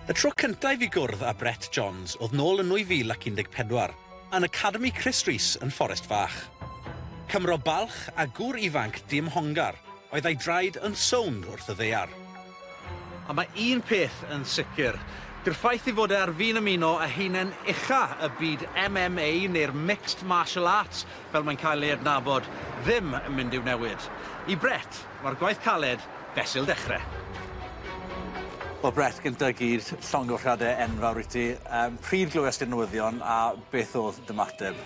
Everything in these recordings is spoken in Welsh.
Y tro cynta' i fi gwrdd â Brett Johns o'dd nôl yn 2014, yn Academi Chris Rees yn Fforest Fach. Cymro balch a gŵr ifanc diymhongar oedd a'i draed yn sownd wrth y ddaear. A mae un peth yn sicr, dyw'r ffaith ei fod e ar fin ymuno â haenen ucha' y byd MMA neu'r Mixed Martial Arts fel mae'n cael ei adnabod, ddim yn mynd i'w newid. I Brett, Mae'r gwaith caled fesul dechre. Wel Brett, gynta i gyd, llongyfarchiade enfawr i ti. Yym, pryd glywes ti'r newyddion a beth o'dd dymateb?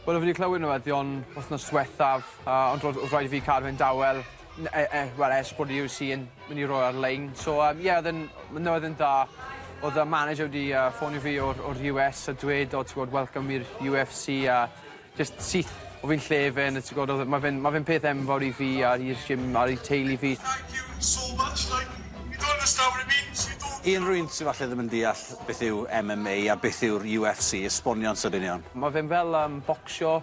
Wel o fi 'di clywed newyddion wthnos dwethaf yy ond ro'dd o'dd raid i fi cadw e'n dawel n- e- e- wel ers bod y You See yn myn' i roi ar-lein so yym ie o'dd e'n ma' newyddion da. O'dd y manager wedi yy ffonio fi o'r o'r You Ess a dweud o t'wod welcome i'r You Eff See a Jyst syth o fy lle fe yn y tŷ gododd ma' fe'n ma' fe'n peth enfawr i fi a i'r gym a i teulu fi. Thank you so much like you don't understand what it means you do. I unrhyw un sy falle ddim yn deall beth yw MMA a beth yw'r UFC esbonio'n sydyn iawn. Ma' fe'n fel yym bocsio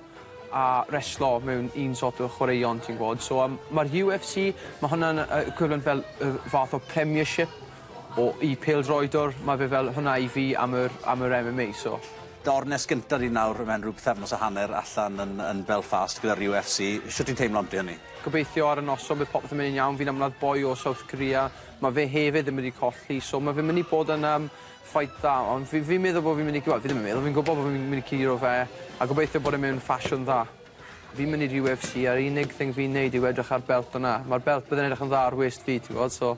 a reslo mewn un sort o chwaraeon ti'n gw'od so yym ma'r UFC ma' hwnna'n yy equivalent fel yy fath o premiership O i pêl-droedwr ma' fe fel hwnna i fi am yr am yr Em Em Ay so. Dorn nes gynta ni nawr mewn rhyw pythefnos a hanner allan yn yn Belfast gyda'r You Eff See. Shwt ti'n teimlo ambyty hynny? Gobeithio ar y noson bydd popeth yn myn' yn iawn fi'n ymladd boi o South Korea ma' fe hefyd yn mynd i colli so ma' fe myn' i bod yn yym fight dda ond fi fi'n meddwl bo' fi'n myn' i wel fi ddim yn meddwl fi'n gwbo bo' fi'n myn' i curo fe a gobeithio bod e mewn ffasiwn dda. Fi'n myn' i'r You Eff See a'r unig thing fi'n neud yw edrych ar belt yna ma'r belt bydde'n edrych yn dda ar wêst fi ti w'od so.